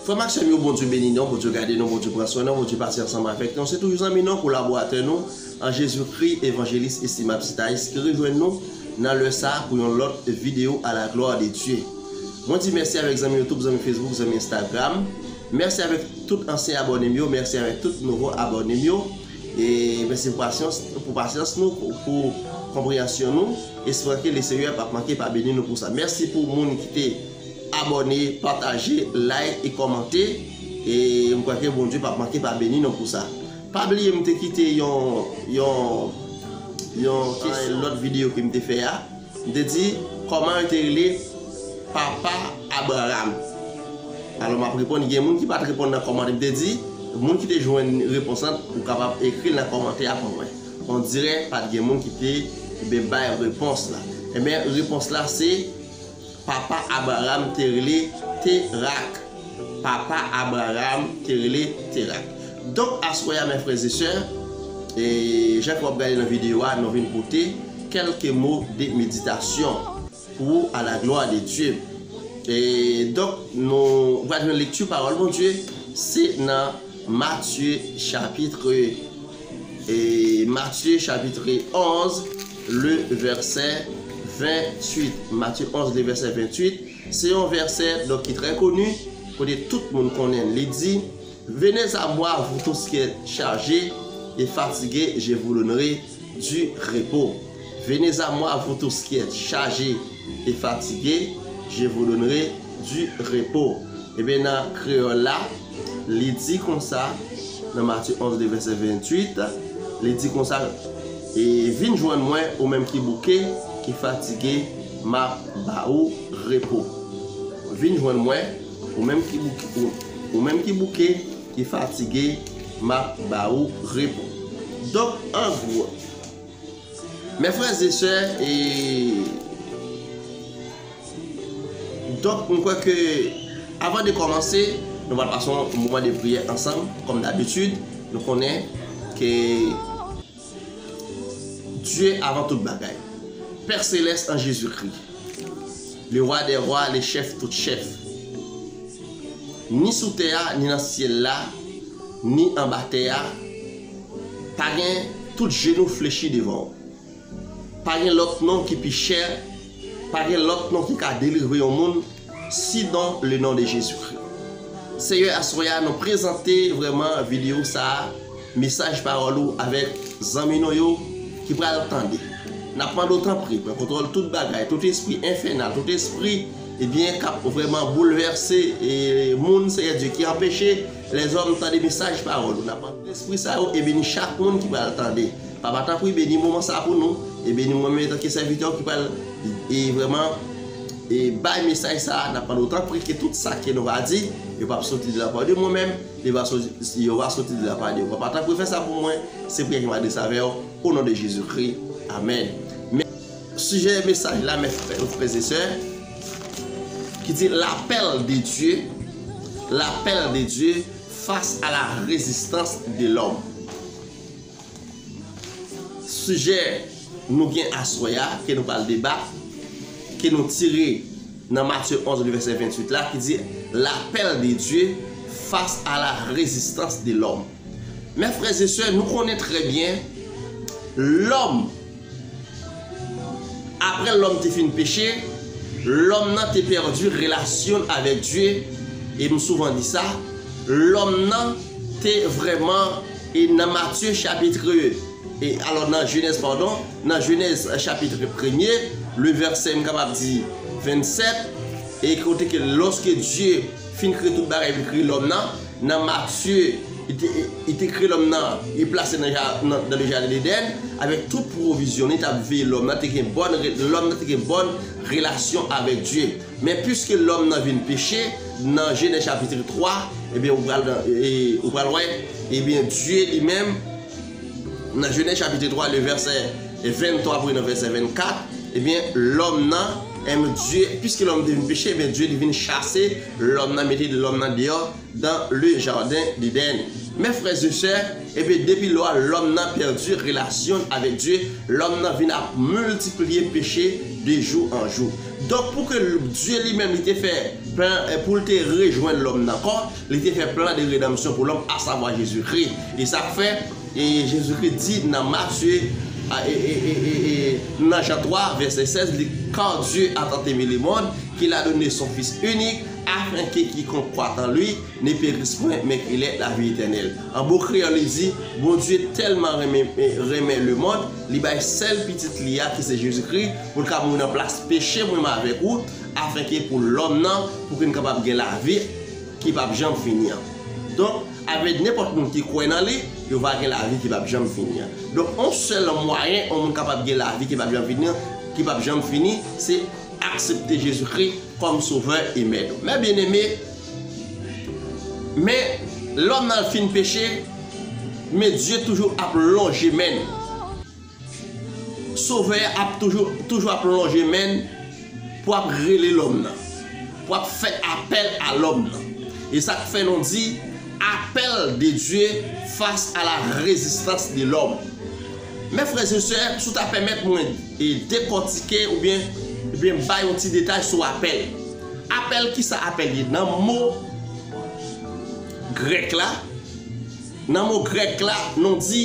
Frèm ak sèm yo Bondye beni nou, Bondye gade nou, Bondye pran swen nou, Bondye pase ansanm avèk nou. Se toujou zanmi nou, kolaboratè nou an Jezi Kri, Evanjelis Estimab Citaïs ki rejwenn nou nan lè sa pou yon lòt video a la glwa de Dye. Mwen di mèsi avèk zanmi YouTube, zanmi Facebook, zanmi Instagram. Mèsi avèk tout ansyen abònem yo mèsi avèk tout nouvo abònem yo e mèsi pou pasyans nou pou konpreyansyon nou espran ke le Senyè pap manke pa beni nou pou sa mèsi pou moun ki te abòne pataje like e kòmante e m kwè ke Bondye pap manke pa beni nou pou sa pa bliye m te kite yon yon yon lòt video ke m te fè a. M te di, Kòman yo te rele papa Abraram? Alò, m ap reponn, gen moun ki pa t reponn nan kòmantè. M te di, Moun ki te jwenn repons lan, ou kapab ekri l nan kòmantè ak mwen. Ondirè pa t gen moun ki te bay repons la. Enben, repons la se. Papa Abraram te rele Terak. Papa Abraram te rele Terak. Donk aswè a mè frè e sè, e jan ke wap gade nan video a nou vin pote kelke mo de meditasyon pou ou a la glwa de Dye. E donk nou pral jwenn lekti pawòl Bondye se nan Matye chapitre. Matye chapitre 11 le vèsè 28 Matye 11 le vèsè 28 se yon vèsè donk ki trè koni kote tout moun konnen l li di venez a mwa vou tous ki èt chaje e fatige je vou donnere di repo venez a mwa vou tous ki èt chaje e fatige je vou donnere di repo ebyen nan kreyòl la Li di konsa, nan Matye 11 de vèsè 28, li di konsa, E vin jwenn mwen ou menm ki bouke, ki fatige, m ap ba ou repo. Vin jwenn mwen, ou menm ki bouke, ou menm ki bouke, ki fatige, m ap ba ou repo. Donk, an gwo, mè frè e sè, e. Donk, m kwè ke avan de kòmanse, nou pral pase yon moman de priyè ansanm, kòm dabitid, nou konnen ke Dye avan tout bagay. Pè Selès an Jezikri, Lewa dè Wa, Lechèf tout chèf, ni sou tè a, ni nan syèl la, ni anba tè a, pa gen, tout jenou flechi devan ou. Pa gen lòt non ki pi chè, pa gen lòt non ki ka delivre yon moun, sidon le non de Jezikri. Seyè aswè a nou prezante vrèman videyo sa a, mesaj pawòl ou avèk zanmi nou yo ki pral tande. N ap mande w tanpri pran kontwòl tout bagay, tout espri enfènal, tout espri ebyen k ap vrèman boulvèse moun Seyè Dye ki anpeche Lèzòm tande mesaj pawòl ou nap antre lespri sa yo e beni chak moun ki pral tande papa tanpri beni moman sa pou nou e beni mwen menm etanke sèvitè ou ki pral e vrèman e bay mesaj sa nap mande ou tanpri ke tout sa ke nou va di yo pap soti de la pa de mwen menm li va soti yo va soti de la pa de ou papa tanpri fè sa pou mwen se priyè ke m adrese avè ou o non de Jezi Kri amèn men sijè mesaj la mes frè et sè. ki di L'appel de Dieu, L'appel de Dieu face à la résistance de l'homme. Sijè nou gen aswè a, ke nou pral deba, ke nou tire nan Matye 11 li vèsè 28 la ki di L'appel de Dieu face à la résistance de l'homme. Mè frè e sè, nou konnen trè byen lòm, Apre lòm te fin peche, lòm nan te pèdi relasyon l avèk Dye, e m souvan di sa, lòm nan te vrèman e nan Matye chapitre e alò nan Jenèz padon, nan Jenèz chapitre premye, le vèsè m kapab di 27, e kote ke lòske Dye fin kreye tout bagay, li kreye lòm nan. Nan Matye, li te kreye lòm nan, li plase l nan le jaden Edenn avèk tout pwovizyon, li t ap veye lòm nan, lòm nan te gen bòn relasyon avèk Dye. Men piske lòm nan vin peche, nan Jenèz chapitri 3, ebyen ou pral wè, ebyen Dye li menm, nan Jenèz chapitri 3 le vèsè 23 pou rive nan vèsè 24, ebyen lòm nan, piske lòm te vin peche, ebyen Dye li vin chase, Lòm nan mete de lòm nan deyò dan le jaden Deden. Mè frè ze sè, epe depi lò a lòm nan pèdi relasyon n avèk Dye, lòm nan vin ap miltipliye peche de jou an jou. Donk pou ke Dye li menm li te fè plan pou l te rejwenn lòm n ankò, li te fè plan de redanmsyon pou lòm asavwa Jezi Kri. E sa k fè? E Jezikri di nan Matye, e nan Jan 3, vèsè 16, li, Kar Dye a tant eme le mond, ke la done son Fis inik, afenke kikonk kwa an Li, ne peris pwen, men ke lè lavi etènèl. An bon kreyòl li di, Bondye tèlman renmen, renmen le mond, li bay sèl Pitit Li a, ki se Jezikri, pou L ka mouri nan plas peche mwen, mwen avèk ou, afenke pou lòm nan, pou ke n kapab gen lavi, ki pap janm fini an. Donk, avèd nenpòt moun ki kwè nan li, yo va gen lavi ki pap janm fini an. Donk, yon sèl mwayen yon moun kapab gen lavi ki pap janm fini an, ki pap janm fini, se aksepte Jezikri kòm Sovè e Mèt ou. Men byenneme, men lòm nan fin peche, men Dye toujou ap lonje men n. Sovè a ap toujou, toujou ap lonje men n pou ap rele lòm nan, pou ap fè apèl a lòm nan. E sa k fè nou di, Apèl de Dye fas a la rezistans de lòm. Men frè e sè, si w ta pèmèt mwen dekòtike oubyen byen bay yon ti detay sou apèl. Apèl, ki sa apèl ye? Nan mo grèk la, nan mo grèk la nou di.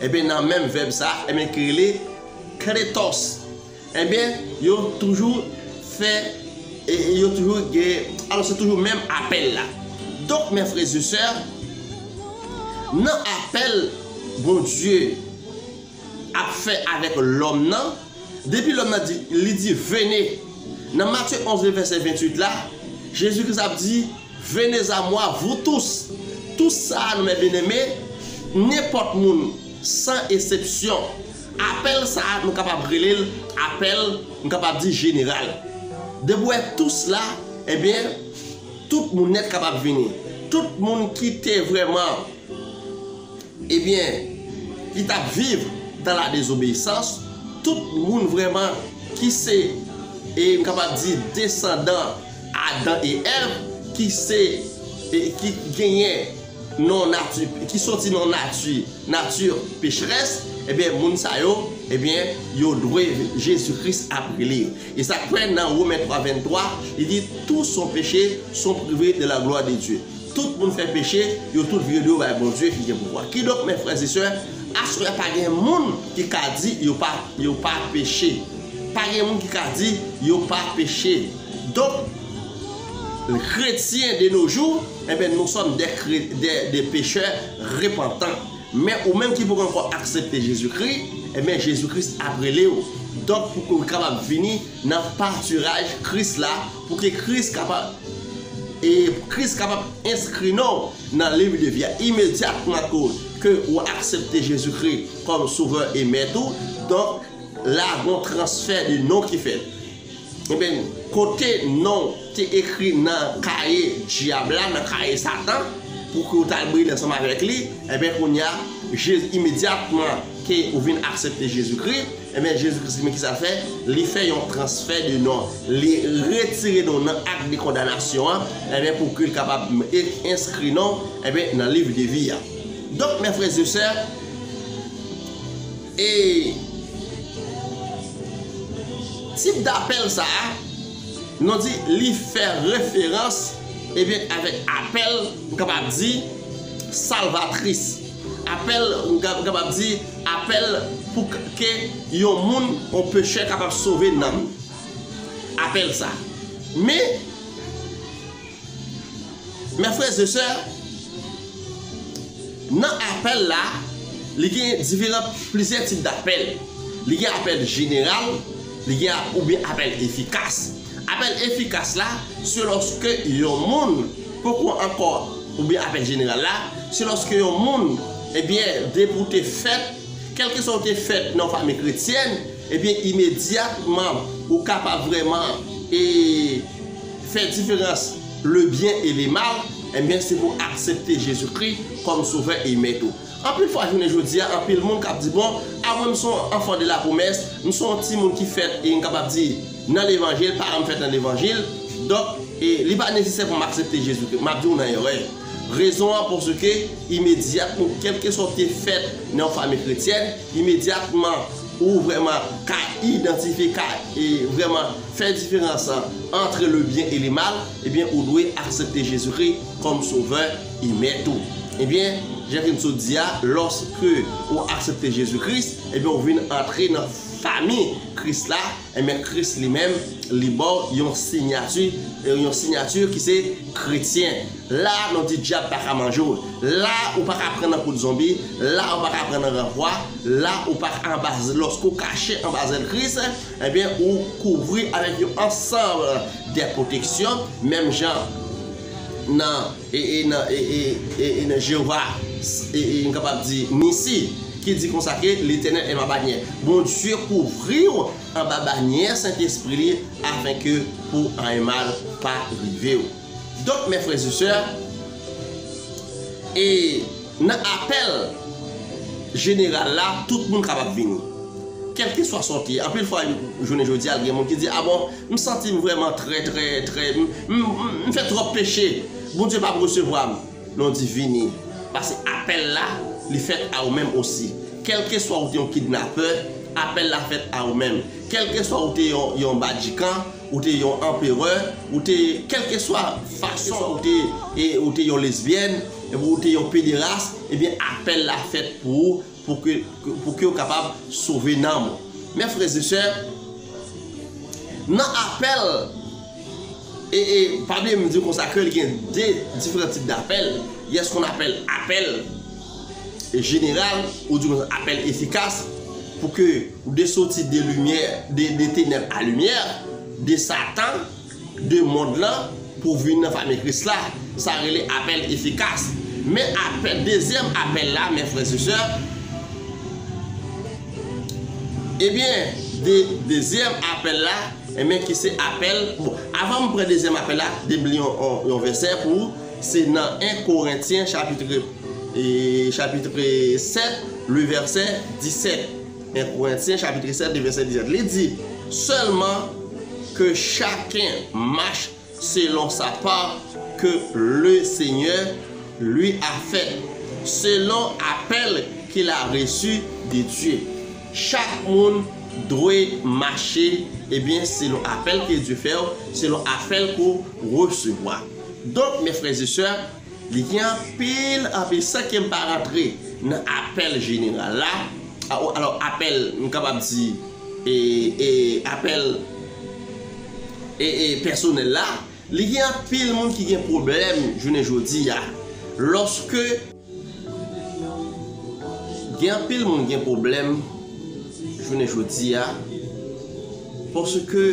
Enben nan menm vèb sa a enben ki rele kletòs enben yo toujou fè yo toujou gen alò se toujou menm apèl la. Donk mè frè e sè nan apèl Bondye ap fè avèk lòm nan depi lòm nan di li di vene nan Matye 11 vèsè 28 la Jezi Kris ap di Venez à moi, vous tous! Tous sa a nou mè byeneme, nenpòt moun, san esepsyon. Apèl sa a nou kapab rele l apèl, nou kapab di jeneral. Depi w wè tous la, ebyen, tout moun nèt kapab vini. Tout moun ki te vrèman, ebyen, ki t ap viv dan la dezobeyisans, tout moun vrèman ki se, e m kapab di, desandan, Adan e Èv ki se e ki genyen non nati ki soti non nati nati pecherès ebyen moun sa yo ebyen yo dwe Jezi Kris ap rele yo. E sa k fè nan Women 3 23 li di tous ont péché sont privés de la gloire de Dieu tout moun fè peche yo tout vire do bay Bondye ki gen pouvwa. Kidonk mè frè e sè aswè a pa gen moun ki ka di yo pa yo pa peche pa gen moun ki ka di yo pa peche. Donk, kretyen de no jou, enben nou sòm dè dè pechè repantan. Men ou menm ki poko ankò aksepte Jezi Kri, enben Jezi Kris ap rele ou. Donk pou ke ou kapab vini nan patiraj Kris la, pou ke Kris kapab e Kris kapab enskri non ou nan liv de vi a imedyatman ke ke ou aksepte Jezi Kri kòm sovè e mèt ou. Donk, la gon transfè de non ki fèt. Ebyen, kote non w te ekri nan kaye Dyab la, nan kaye Satan, pou ke w t al briye ansanm avèk li, ebyen kounye a, Jezi, imedyatman ke ou vin aksepte Jezikri, ebyen Jezikri se men kisa l fè, li fè yon transfè de non, li retire non w nan ak de kondanasyon an, ebyen pou ke l kapab enskri non w, ebyen nan liv de vi a. Donk, mè frè e sè, E tip dapèl sa a, nou di li fè referans ebyen avèk apèl m kapab di salvatris. Apèl m kapab di apèl pou ke yon moun, yon pechè kapab sove nanm li. Apèl sa. Men. Mè frè ze sè, nan apèl la, li gen diferan plizyè tip dapèl. Li gen apèl jeneral, li gen oubyen apèl efikas. Apèl efikas la, se lòske yon moun poko ankò, oubyen apèl jeneral la, se lòske yon moun, ebyen, depi ou te fèt, kèlkeswa ou te fèt nan yon fanmi kretyèn, ebyen imedyatman ou ka pa vrèman e. Fè diferans le byen e le mal, enben se pou aksepte Jezi Kri kòm Sovè e Mèt ou. Anpil fwa jounen jodi a, anpil moun kab di bon, a mwen m son w anfan de la pwomès, m son w timoun ki fèt e n kapab di nan levanjil, paran m fèt nan levanjil, donk e li pa nesesè pou m aksepte Jezi Kri. M ap di w nan erè. Rezon an paske imedyatman, kèlkeswa w te fèt nan yon fanmi kretyèn, imedyatman, ou vrèman ka idantifye ka e vrèman fè diferans antre le byen e le mal ebyen ou dwe aksepte Jezikri kòm sovè e mèt ou ebyen jan ke m sot di a lòske ou aksepte Jezi Kris ebyen ou vin antre nan fami Kris la ebyen Kris li menm li baw yon sinyati yon sinyati ki se kretyen. La a nou di dyab pa ka manje w, la a ou pa ka pran nan kout zonbi, la a ou pa ka pran nan ranvwa, la a ou pa ka anba lòske ou kache anba zèl Kris, enben ou kouvri avèk yon ansanm de pwoteksyon menm jan nan e nan Jewova e m kapab di Nisi ki di konsa ke Letènèl e ma banyè. Bondye kouvri w anba banyè Sentespri li afenke pou anyen mal pa rive w. Donk mè frè zesè e nan apèl jeneral la tout moun kapab vini kèlke swa sa w te ye anpil fwa jounen jodi a gen moun ki di a bon m santi m vrèman trè trè trè m fè twòp peche Bondye pap resevwa m non di vini paske apèl la li fèt a ou menm osi kèlke swa ou te yon kidnapè apèl la fèt a ou menm kèlke swa ou te yon badjikan. Ou te yon anperè, ou te kèlkeswa fason ou te e ou te yon lesbyèn, ou te yon pederas, ebyen apèl la fèt pou ou pou kew kapab sove nanm ou. Mè frè e sè, nan apèl e e pa bliye m diw konsa ke li gen 2 diferan tip dapèl, gen skonn apèl apèl. jeneral ou di yon apèl efikas pou ke ou de soti de limyè, de tenèb a limyè, de satan, de mond lan pou vin nan fami Kris la. Sa rele apèl efikas. Men apèl, dezyèm apèl la, men frè se sè, ebyen, de dezyèm apèl la, men ki se apèl, bon, avan m pran dezyèm apèl la, de m li yon vèsè pou ou, se nan 1 Korentyen chapitre. Chapitre 7, le verset 17. 1 Corinthiens chapitre 7, le verset 17. Li di, Sèlman, ke chaken mach selon sa part ke le Senyè li a fèt, selon apèl ke l a resu de Dye. Chak moun dwe mache, ebyen, selon apèl ke Dye fè ou, selon apèl ke ou resevwa. Donk, mes frères et sœurs, Li gen anpil anpil san ke m pa rantre nan apèl jeneral la, alò apèl m kapab di e apèl e e pèsonèl la, li gen anpil moun ki gen pwoblèm jounen jodi a lòske gen anpil moun gen pwoblèm jounen jodi a paske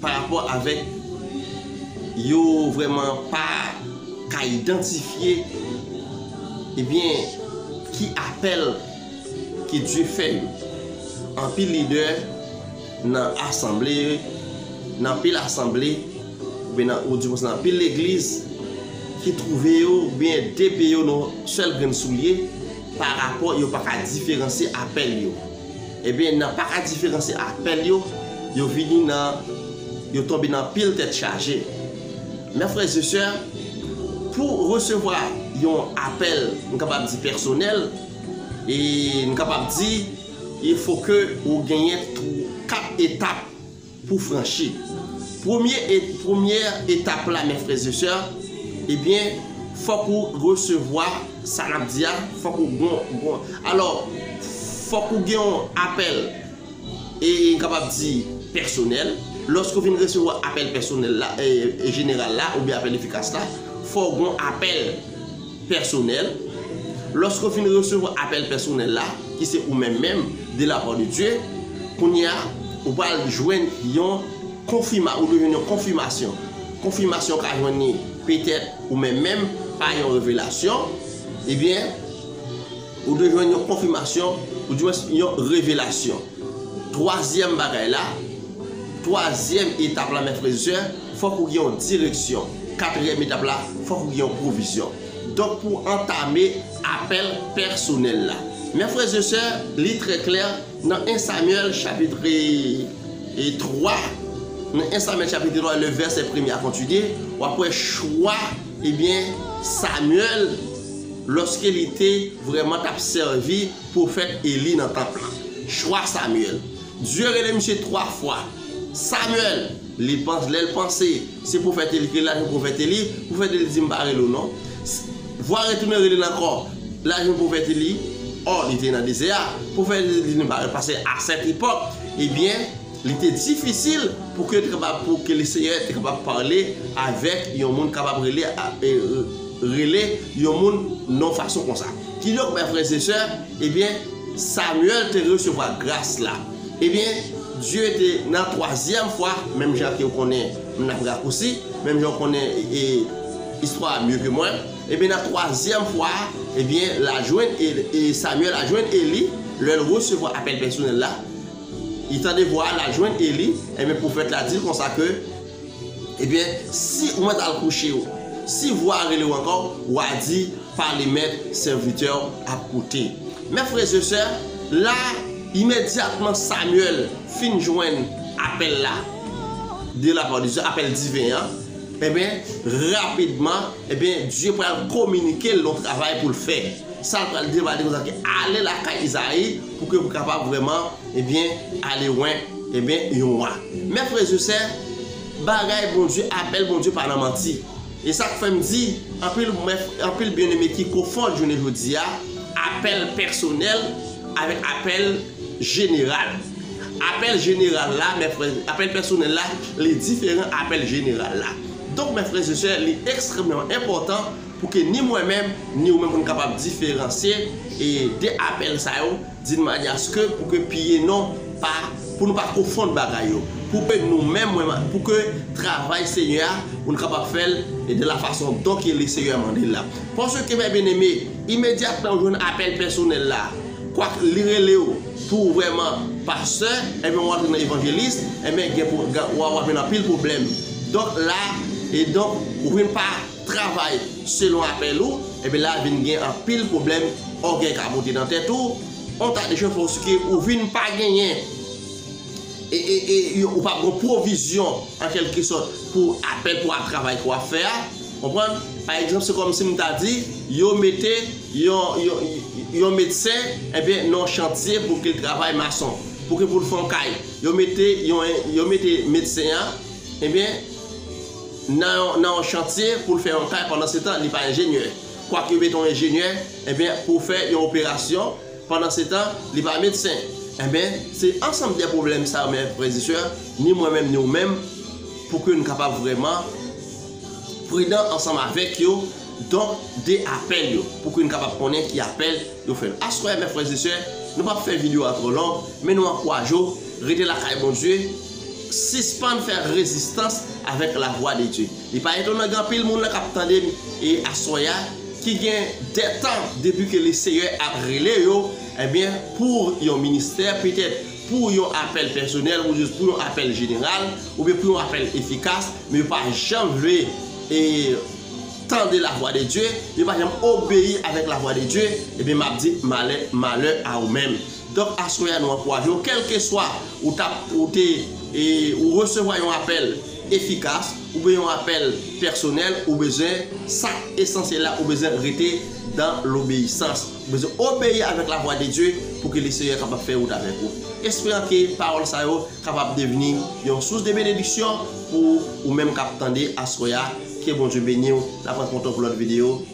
pa rapò avèk yo vrèman pa ka idantifye ebyen ki apèl ke Dye fè yo. Anpil lidè nan asanble, nan anpil asanble, oubyen nan ou di konsa nan anpil legliz ki twouve yo oubyen depe yo nan yon sèl grenn soulye pa rapò yo pa ka diferansye apèl yo. Ebyen nan pa ka diferanse apèl yo, yo vini nan yo tonbe nan pil tèt chaje. Mè frè ze sè, pou resevwa yon apèl m kapab di pèsonèl, e m kapab di il fo ke ou genyen 4 etap. pou franchi. Premye et premyè etap la mes frères et sœurs ebyen fòk ou resevwa sa nap di a fòk ou gon gon alò fòk ou gen yon apèl e m kapab di pèsonèl lòske ou fin resevwa apèl pèsonèl la e jeneral la oubyen apèl efikas la fòk ou gon apèl Pèsonèl, Lòske w fin resevwa apèl pèsonèl la, ki se ou menm menm, de la part de Dieu, kounye a, ou pral jwenn yon konfima, ou dwe jwenn yon konfimasyon. Konfimasyon w ka jwenn li petèt ou menm menm, pa yon revelasyon, ebyen, Ou dwe jwenn yon konfimasyon, oudiwens yon revelasyon. Twazyèm bagay la, twazyèm etap la, mè frèzsè, fòk ou gen yon direksyon. Katriyèm etap la, fòk ou gen yon pwovizyon. Donk pou antame apèl pèsonèl la. Mè frèzsè, li trè klè nan 1 Samyèl chapitre 3, nan 1 Samyèl chapitre 3 le vèsè premye a kontinye, wap wè chwa. Ebyen, Samyèl, lòske li te vrèman t ap sèvi pwofèt Eli nan tanp lan, chwa Samyèl, Dye rele misye twa fwa, Samyèl! Li panse, lè l panse se pwofèt Eli ki rele l, l al jwenn pwofèt Eli, pwofèt Eli di, M pa rele w non. Vwa retounen rele l ankò, l al jwenn pwofèt Eli, ò, li te nan dezè a, pwofèt Eli di, Nou pa rele l paske a sèt epòk, ebyen, Li te difisil pou ke te kapab pou ke le Seyè te kapab pale avèk yon moun kapab rele rele yon moun non fason konsa. Kidonk mè frè e sè, ebyen Samyèl te resevwa gras la. Ebyen Dye te nan twazyèm fwa, menm jan ke ou konnen m nan rakousi, menm jan ou konnen e istwa a mye ke mwen, ebyen nan twazyèm fwa a, ebyen la jwenn e Samyèl a jwenn Eli lè l resevwa apèl pèsonèl la, Li tande vwa a, l'al jwenn Eli, enben pwofèt la di l' konsa ke, Ebyen, si ou mèt al kouche ou, si vwa a rele ou ankò, w'a di, Pale mèt, sèvitè ou ap koute. Mè frèzesè, la, imedyatman Samyèl fin jwenn apèl la, de la pa de Dye, apèl diven an, enben, rapidman, enben, Dye pral kominike l' yon travay pou l' fè. Sa l' pral di l', pral di l' konsa ke, Ale lakay Izayi, Pou ke ou kapab vreman, ebyen, ale lwen, ebyen, yon wa. Mè frè ze sè, bagay Bondye, apèl Bondye pa nan manti. E sak fèm di, anpil mè, anpil byen eme ki kofond jounen jodi a, apèl pèsonèl avèk apèl jeneral. Apèl jeneral la, mè frè, apèl pèsonèl la, li diferan apèl jeneral la. Donk mè frè ze sè, li ekstrèmèman enpòtan. Pou ke ni mwen menm, ni ou menm pou nou kapab diferansye e 2 apèl sa yo din many aske pou ke piye non pa, pou nou pa konfonn bagay yo. Pou ke nou menm, mwen menm, pou ke travay Senyè a, pou nou kapab fè l e de la fason don ke le Seyè mande l la. Panse ke, mè byeneme, imedyatman ou jwenn apèl pèsonèl la, kwak li rele ou pou ou vrèman pastè, enben ou antre nan evanjelis, enben gen pou, gen, w a, w a jwenn anpil pwoblèm. Donk la, e donk, ou vin pa. travay selon apèl ou ebyen la vin gen anpil pwoblèm ògèy ka moute nan tèt ou on ta de chofè oske ou vin pa genyen ee ou pa gon pwovizyon an kelke sòt pou apèl pou ap travay ke wap fè a konprann pa egzanp se kòm sim ta di yo mete yon yon medsen ebyen nan yon chantye pou ke travay mason pouki poul fon kay yo mete yon yo mete medsen an ebyen nan yon chantye pou l fè yon kay pandansetan li pa enjenyè kwak yo mete yon enjenyè enben pou fè yon operasyon pandansetan li pa medsen enben se ansanm de pwoblèm sa yo mè frè e sè ni mwen menm ni ou menm pou ke n kapab vrèman pridan ansanm avèk yo donk de apèl yo pou ke n kapab konnen ki apèl yo fè aswè mè frè e sè nou pap fè videyo a twò long men nou ankouraje w rete lakay Bondye. Sispann fè rezistans avèk lavwa de Dye. Li pa etonan gen anpil moun la kap tande m e aswè a ki gen de tan depi ke le Seyè ap rele yo ebyen pou yon ministè petèt pou yon apèl pèsonèl ou jis pou yon apèl jeneral oubyen pou yon apèl efikas men yo pa janm vle e tande lavwa de Dye yo pa janm obeyi avèk lavwa de Dye ebyen map di malè malè a ou menm. Donk aswè a nou ankouraje w kèlkeswa ou ta ou te ou resevwa yon apèl efikas oubyen yon apèl pèsonèl ou bezwen sa k esansyèl la ou bezwen rete dan lobeyisans ou bezwen obeyi avèk lavwa de Dye pou ke Lesenyè kapab fè wout avèk ou esperan ke pawòl sa yo kapab devni yon sous de benediksyon pou ou menm k ap tande aswè a ke Bondye beni w n ap rankontre w pou lòt videyo.